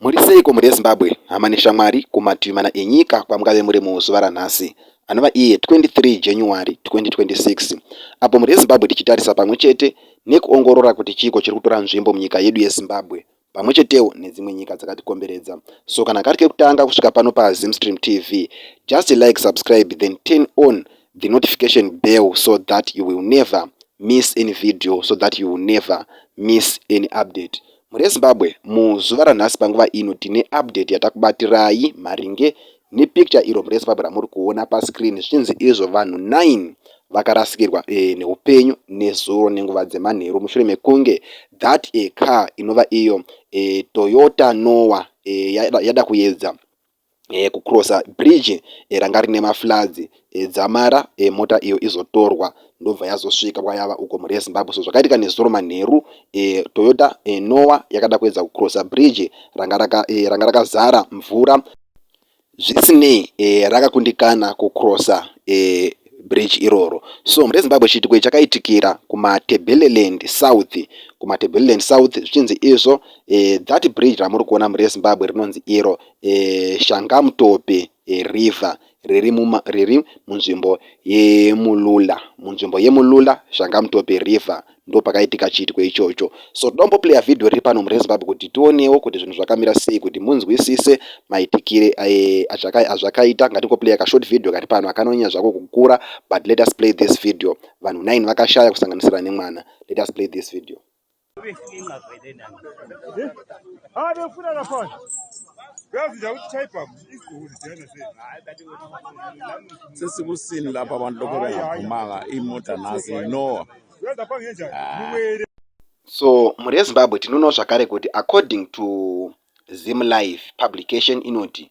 Muri seiko mhuri yeZimbabwe, hama neshamwari kumativi mana enyika kwamungave muri muzuva ranhasi anova iye 23 January 2026 apo mhuri yeZimbabwe tichitarisa pamwe chete nekuongorora kuti chiiko chiri kutora nzvimbo munyika yedu yeZimbabwe pamwe chetewo nedzimwe nyika dzakatikomberedza so kana kari kekutanga kusvika pano paZimstream TV just like subscribe then turn on the notification bell so that you will never miss any video so that you will never miss any update mhuri yezimbabwe muzuva ranhasi panguva ino tine update yatakubatirai maringe nepicture iro mhuri yezimbabwe ramuri kuona pascreen zvichinzi izvo vanhu 9 vakarasikirwa e, neupenyu nezuro nenguva dzemanheru mushure mekunge that a car inova iyo e, toyota noa e, yada, yada kuyedza eh, kucrossa bridge eh, ranga rine mafloods eh, dzamara eh, mota iyo izotorwa ndobva yazosvika kwayava uko mhuri yezimbabwe so zvakaitika nezuro manheru eh, toyota eh, noa yakada kuedza kucrossa bridge ranga raka, eh, ranga rakazara mvura zvisinei eh, rakakundikana kucrossa eh, bridge iroro so mhuri yezimbabwe chiitiko ichi chakaitikira kumatebeleland south kumatebeleland south zvichinzi izvo eh, that bridge ramuri kuona mhuri yezimbabwe rinonzi iro Shangamtope River riri munzvimbo yeMulula. Munzvimbo yeMulula, Shangamtope River ndipo pakaitika chiitiko ichocho. So tombo player video riri pano mureZimbabwe kuti tionewo kuti zvinhu zvakamira sei kuti munzwisise maitikire azvakaita. Ngatingo player ka short video kari pano akanonyanya zvako kukura but let us play this video. Vanhu nine vakashaya kusanganisira nemwana. Let us play this video. sesikusini lapha abantu lokho bengaphumanga imota nasi inowa so mhuri yezimbabwe tinoona zvakare kuti according to zim life publication inoti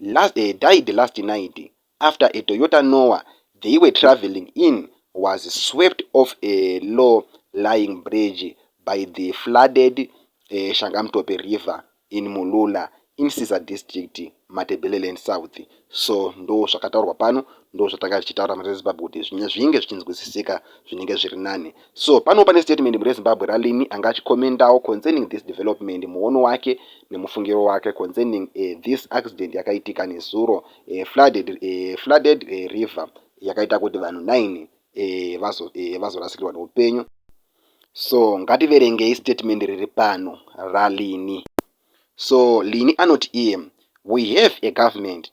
Last, uh, died last night after a Toyota Noah they were travelling in was swept off a low lying bridge by the flooded uh, Shangamtope River in Mulula in Siza District, Matabeleland South. So ndo zvakataurwa pano, ndo zvatanga tichitaura muReZimbabwe kuti zvinenge zvichinzwisisika zvinenge zviri nani. So pano pane statement mune Zimbabwe raLinny anga achicommentawo concerning this development muono wake nemufungiro wake concerning uh, this accident yakaitika nezuro uh, flooded, uh, flooded uh, river yakaita kuti vanhu 9 uh, vazo, uh, vazorasikirwa neupenyu so ngativerengei statement riri pano raLinny so Linny anoti iye we have a government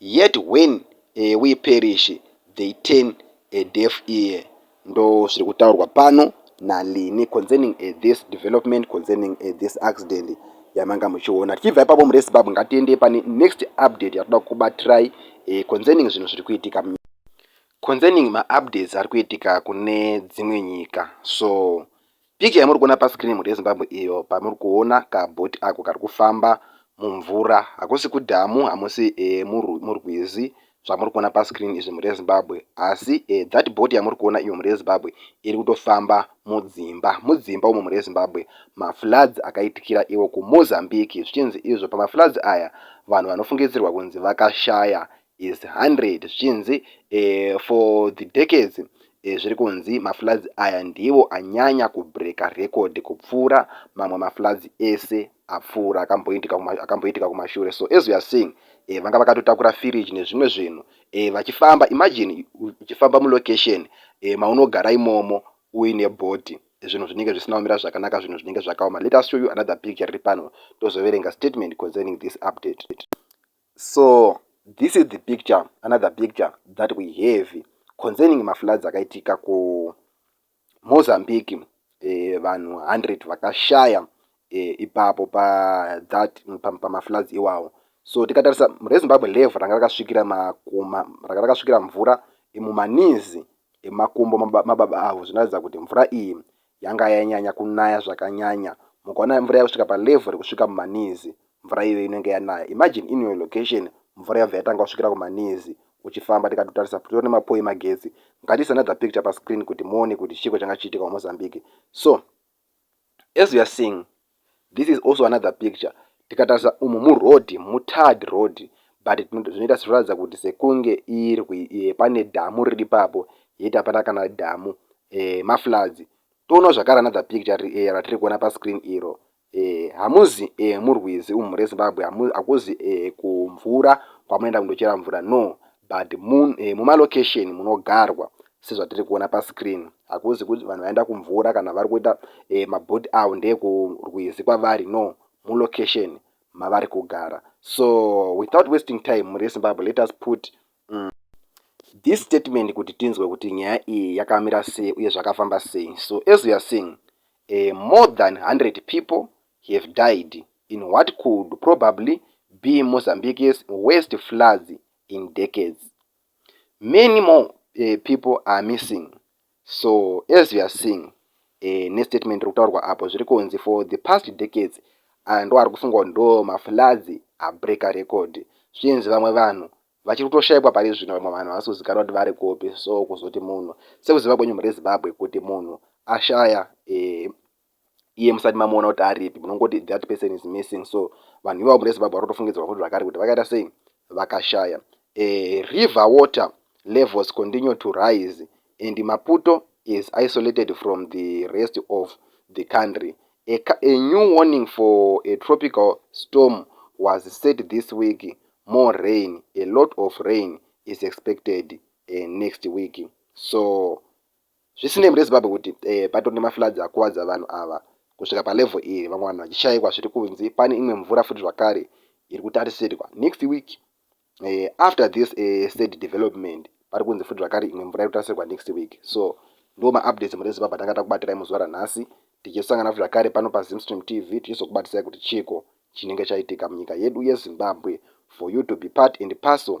Yet when we perish they turn a deaf ear ndozviri kutaurwa pano naLean concerning this development concerning this accident yamanga muchiona. Tichibva ipapo muReZimbabwe ngatiendei pane next update yatoda kukubatirai concerning zvinhu zviri kuitika munyika. Concerning maupdates ari kuitika kune dzimwe nyika so Pic yamuri kuona pa screen muri yeZimbabwe iyo pamuri kuona ka boat ako kari kufamba mumvura hakusi kudhamu hamusi e, murwizi zvamuri kuona pa screen izvi muri yeZimbabwe asi e, that boat yamuri kuona iyo muri yeZimbabwe iri kutofamba mudzimba mudzimba umo muri yeZimbabwe ma floods akaitikira iwo ku Mozambique zvichinzi izvo pama floods aya vanhu vanofungidzirwa kunzi vakashaya is 100 zvichinzi eh, for the decades eh, zviri kunzi mafloods aya ndivo anyanya kubreaka record kupfuura mamwe mafloods ese apfuura akamboitika akamboitika kumashure so as we are seeing eh, vanga vakatotakura firiji nezvimwe zvinhu eh, vachifamba imagine uchifamba mulocation eh, maunogara imomo uine body zvinhu zvinenge zvisina kumira zvakanaka zvinhu zvinenge zvakaoma let us show you another picture riri pano tozoverenga statement concerning this update So this is the picture another picture that we have concerning mafloods akaitika kuMozambique eh, vanhu 100 vakashaya eh, ipapo pathat pamafloods iwawo so tikatarisa rezimbabwe level ranga rakasvikira makuma ranga rakasvikira mvura mumanizi emakumbo mababa avo zvinoratidza kuti mvura iyi yanga yanyanya kunaya zvakanyanya mukaona mvura yakusvika palevel rekusvika mumaknees mvura iyoyo inenge yanaya imagine in your location mvura yabva yatanga kusvikira kumaknees uchifamba tikati kutarisa kutori nemapoe emagetsi ngatiise another picture pascreen kuti muone kuti chiiko changa chichiitika kumozambique so as we are seeing This is also another picture tikatarisa umu muroad mutarred road but zvinoita zvinoratidza kuti sekunge irwi e, pane dhamu riri papo yet hapana kana dhamu e, mafloods toonawo zvakare another picture e, ratiri kuona pascreen iro e, hamuzi e, murwizi umu rezimbabwe hakuzi e, kumvura kwamunoenda kundochera mvura no But mun muma location munogarwa sezvatiri kuona pa screen hakuzi kut vanhu vaenda kumvura kana vari kuita ma boat avo ndeeku rwizi kwavari no mu location mavari kugara so without wasting time mhuri ye Zimbabwe let us put umm this statement kuti tinzwe kuti nyaya iyi yakamira sei uye zvakafamba sei so as we are seeing umm more than 100 people have died in what could probably be Mozambique's worst floods in decades. Many more uh, people are missing. So as you are seeing uh, nestatement rikutaurwa apo zviri kunzi for the past decades aya ndo ari kufungwa ndo mafloods abreaker record zvinzi vamwe vanhu vachiri kutoshaikwa pari zvino vamwe vanhu havasi kuzikanwa kuti vari kupi so kuzoti munhu sekuziva kwenyu mhuri yezimbabwe kuti munhu ashaya eh, iye musati mamuona kuti aripi munongoti that person is missing so vanhu ivavo murezimbabwe varotofungidzirwa futi zvakare kuti vakaita sei vakashaya eh, river water levels continue to rise and maputo is isolated from the rest of the country a, a new warning for a tropical storm was set this week more rain a lot of rain is expected uh, next week so Zvisinei, mureZimbabwe kuti patori nemafloods akuvadza vanhu ava kusvika palevel iri, vamwe vanhu vachishaikwa zviri kunzi pane imwe mvura futi zvakare iri kutarisirwa next week after this sad development pari kunzi futi zvakare imwe mvura iri kutarisirwa next week so ndiwo maupdates mureZimbabwe atanga takubatirai muzuva ranhasi tichisangana futi zvakare pano paZimstream TV tichizokubatisai kuti chiiko chinenge chaitika munyika yedu yeZimbabwe for you to be part and parcel